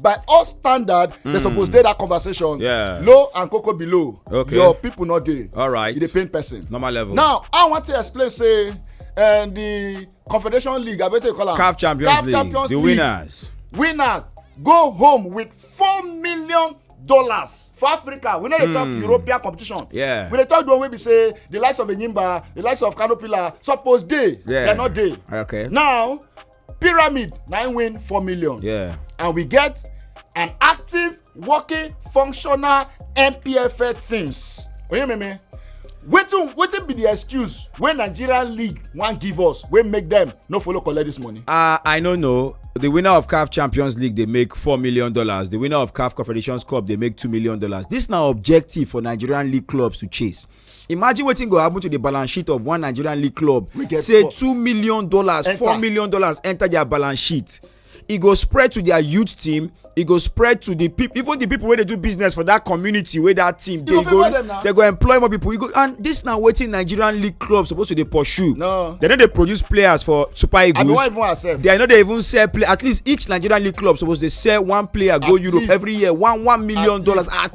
by all standard mm. they hmm. suppose dey that conversation yeah. low and koko below okay. your people no dey All right. e dey pain person normal level now i want to explain say and eh, the confederation league abete call am caf champions CAF league champions the league. winners winner go home with four million dollars for africa we no dey talk hmm. european competition yeah. we dey talk the one wey be say the likes of enyimba the likes of kano pillar suppose dey yeah. dem no dey okay. now pyramid na im win four million yeah. and we get an active working functional mpfa teams oyememe wetin wetin be the excuse wey nigeria league wan give us wey make dem no follow collect this money. Uh, i no know the winner of caf champions league dey make four million dollars the winner of caf confederations cup dey make two million dollars this na objective for nigerian league clubs to chase imagine wetin go happen to the balance sheet of one nigerian league club say two million dollars four million dollars enter their balance sheet e go spread to their youth team e go spread to the people even the people wey dey do business for that community wey that team dey go they go employ more people go and this na wetin nigerian league club suppose to dey pursue no they no dey produce players for super eagles they no dey even sell play at least each nigerian league club suppose dey sell one player go europe every year one one million dollars at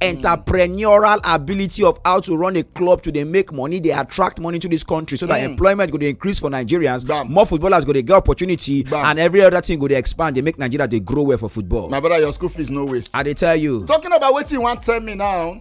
entrepreneurial ability of how to run a club to dey make money dey attract money to this country so that mm. employment go dey increase for nigerians Damn. more footballers go dey get opportunity Damn. and every other thing go dey expand dey make nigeria dey grow well for football. my brother your school fees no waste. i dey tell you. talking about wetin you wan tell me now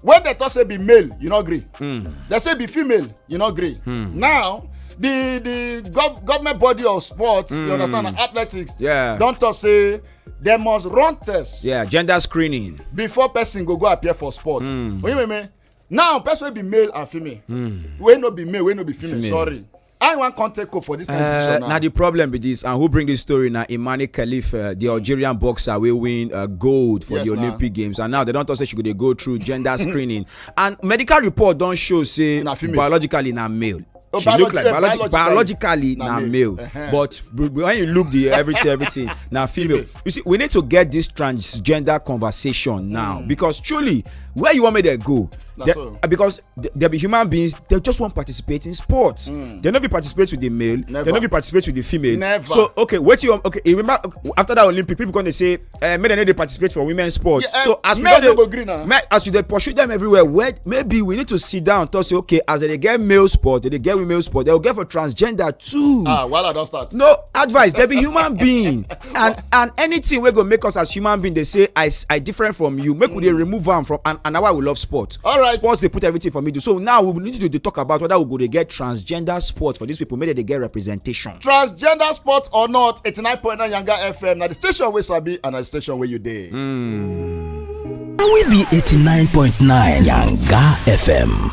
when dem talk say be male you no gree. Mm. dem say be female you no gree. Mm. now the the gov government body of sports mm. you hmm. understand athletics. Yeah. don talk say dem must run tests. yeah gender screening. before person go go appear for sport. Mm. oyin meme now person wey be male and female. Mm. wey no be male wey no be female, female. sorry i wan come take hope for this kind uh, decision now. na the problem be this and who bring this story na imani khalif uh, the algerian boxer wey win uh, gold for yes, the olympic games and now they don talk say she go dey go through gender screening and medical report don show say biologically na male. Oh, she look like biologically, biologically na male, male. Uh -huh. but when you look the everything everything na female you see we need to get this transgender conversation now mm. because truly where you want me to go they, so. Uh, because there be human beings they just wan participate in sports mm. they no fit participate with the male Never. they no fit participate with the female Never. so okay wetin you okay remember after that olympic people come dey say uh, make dem no dey participate for women sports yeah, uh, so as we don dey go gree na make as you dey pursue them everywhere well maybe we need to sit down talk say okay as dem dey get male sport dem dey get women sport dem go get for transgender too. ah wahala don start. no advice dem be human being and and anything wey go make us as human being dey say i i different from you make mm. we dey mm. remove am from and and na why we love sport. all right sports dey put everything for middle so now we need to dey talk about whether we go dey get transgender sport for these people make dem dey get representation. transgender sport or not eighty-nine point nine yanga fm na the station wey sabi and na the station wey you dey. Mm. na we be eighty-nine point nine yanga fm.